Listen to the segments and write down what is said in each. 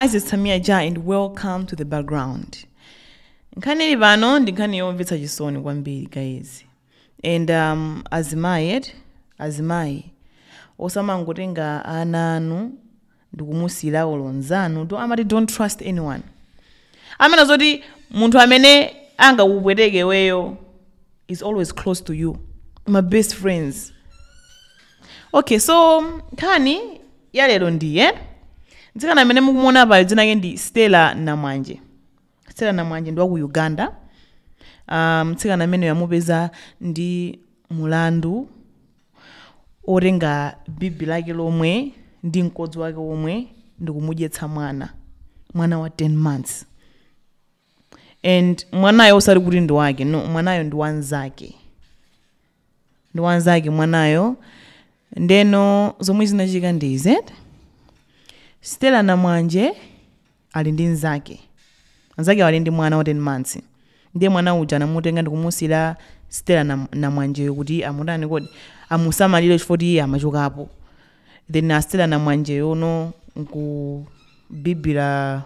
Guys, it's Tamia Ja and welcome to the background. Nkhani ili pano ndi nkhani yomvetsa chisoni kwambiri guys. And um, azimayi eti azimayi osamangotenga ana anu ndikumusiyira olo nzanu, amati don't trust anyone. Amanena zoti munthu amene angakupweteke iweyo is always close to you. My best friends. okay so nkhani ya lero ndi ya mtsikana amene mukumuona apayo dzina lake ndi stella namwanje stella namwanje ndi wa ku uganda Ah, mtsikana ameneyo amupeza ndi mulandu otenga bibi lake lomwe ndi mkodzo wake omwe ndikumudyetsa mwana mwana wa 10 months and mwanayo osati kuti ndi wake no mwanayo ndi wanzake ndi wanzake mwanayo ndeno zomwe zinachitika ndi izi stela namwanje ali ndi nzake nzake ali ndi mwana wa 10 months ndiye mwana uja anamutenga ndikumusiyira stela namwanjeyo kuti amutani kuti amusamalire chifukwa choti iye amachokapo Then a stela namwanjeyo no nkubibila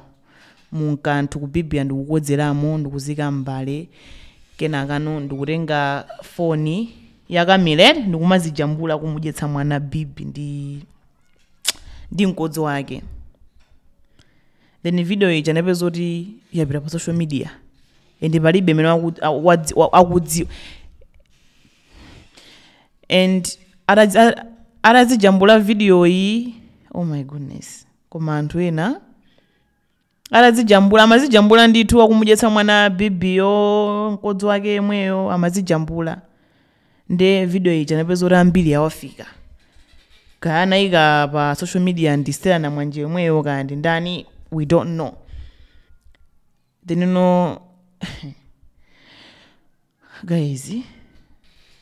mu kanthu kubibila ndikukodzelamo ndikuziika m'mbale kenakano ndikutenga foni ya kamera ndikumazijambula kumudyetsa mwana bibi ndi ndi mkodzo wake then video ija inapezeka kuti yapita pa social media and palibe amene akudzi- wa- akudzi- and atazi- a- atazijambula video iyi oh my goodness koma anthu ena atazijambula amazijambula ndithu akumudyetsa mwana bibiyo mkodzo wake yemweyo amazijambula nde video ija inapezeka kuti ambiri yawafika kaya anayika pa social media ndi stela namwanje yemweyo kaya ndi ndani we don't know ndeno guys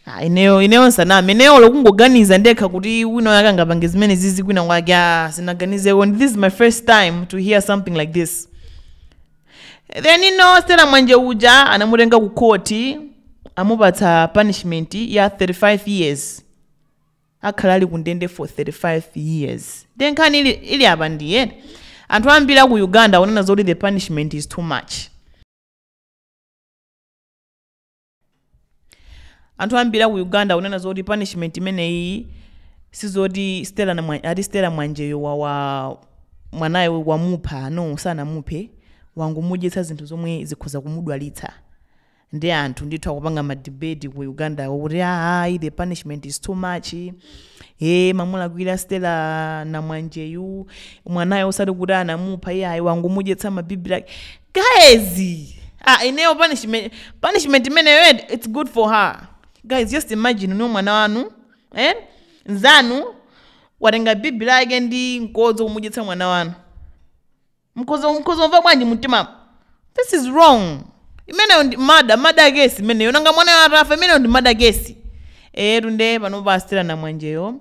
ah, ineyo ineyo nsaname ineyo olo kungoganiza ndekha kuti wina wake angapange zimenezizi kwina kwake ah, sindinaganizeko and this is my first time to hear something like this ndeno stela namwanje uja anamutenga ku khoti amupatsa punishment ya 35 years akhale ali kundende for 35 years nde nkhani ili, ili apa ndiye anthu ambiri aku uganda akunena zoti the punishment is too much anthu ambiri aku uganda akunena zoti punishment imeneyi sizoti stela namwa- ati stela namwanjeyo wa, wa mwanayo wamupha no sanamuphe wangomudyetsa zinthu zomwe zikhoza kumudwalitsa nde anthu ndithu akupanga madebate ku uganda kuti ayi the punishment is too much e amulakwira stela namwanjeyu mwanayo osati kuti anamupha iye ayi wangomudyetsa mabibi la guys ah ineyo punishment punishment imeneyo eti, it's good for her guys just imagine iwe mwana wanu eh nzanu watenga bibi lake ndi mkodzo kumudyetsa mwana wanu mkodzo mkodzo umva bwanji mtima this is wrong imeneyo ndi murder murder case imeneyo nanga mwanayo atafa imeneyo ndi murder case-tu nde panopa astela namwanjeyo